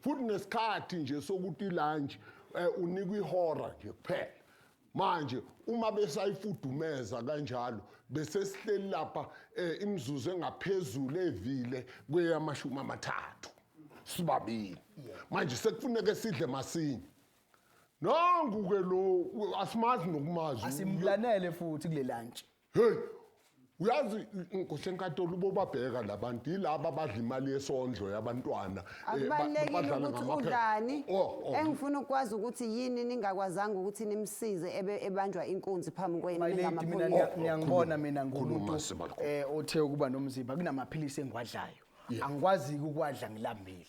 futhi nesikhathi nje sokuthi lunch eh, unikwa ihora nje kuphela manje uma besayifudumeza kanjalo bese sihleli lapha eh, imizuzu engaphezulu evile kweyamashumi amathathu sibabili manje sekufuneka sidle masinye nangu ke lo asimazi nokumazi asimlanele futhi kule lunch Hey, uyazi nkosi enkantolo ubobabheka labantu yilaba abadla imali yesondlo yabantwana eh, ba- akubalulekile badlala ukuthi ngamaphepha. udlani Oh, oh. engifuna ukwazi ukuthi yini ningakwazanga ukuthi nimsize ebe ebanjwa inkunzi phambi kwenu My lady mina ningamaphoyisa. niya- niyangibona mina Oh, khuluma, ngumuntu Sibalukhu. eh othe ukuba nomzimba kunamaphilisi engiwadlayo Yeah. angikwazi ukwadla ngilambile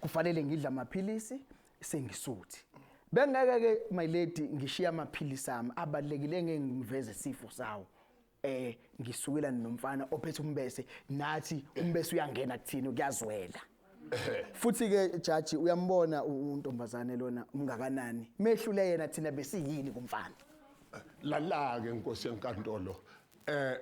kufanele ngidla amaphilisi sengisuthi bengeke ke my lady ngishiya amaphilisi ami abalekile engeke ngiveze isifo sawo eh ngisukela nomfana ophethe umbese nathi umbese uyangena kuthini kuyazwela futhi ke jaji uyambona untombazane lona umngakanani mehlule yena thina besiyini kumfana lalake inkosi yenkantolo eh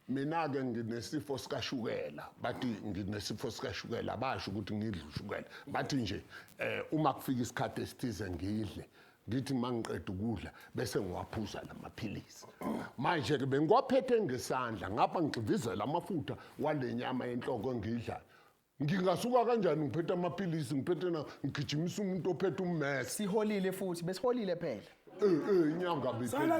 mina-ke nginesifo sikashukela bathi nginesifo sikashukela basho ukuthi ngidle ushukela bathi nje um uma kufika isikhathi esithize ngidle ngithi uma ngiqeda ukudla bese ngiwaphuza la maphilisi manje-ke bengiwaphethe ngesandla ngapha ngigxivizela amafutha wale nyama yenhloko engiyidlayo ngingasuka kanjani ngiphethe amaphilisi ngiphethe na ngigijimisa umuntu ophethe ummese siholile futhi besiholile phela um um inyanga bikela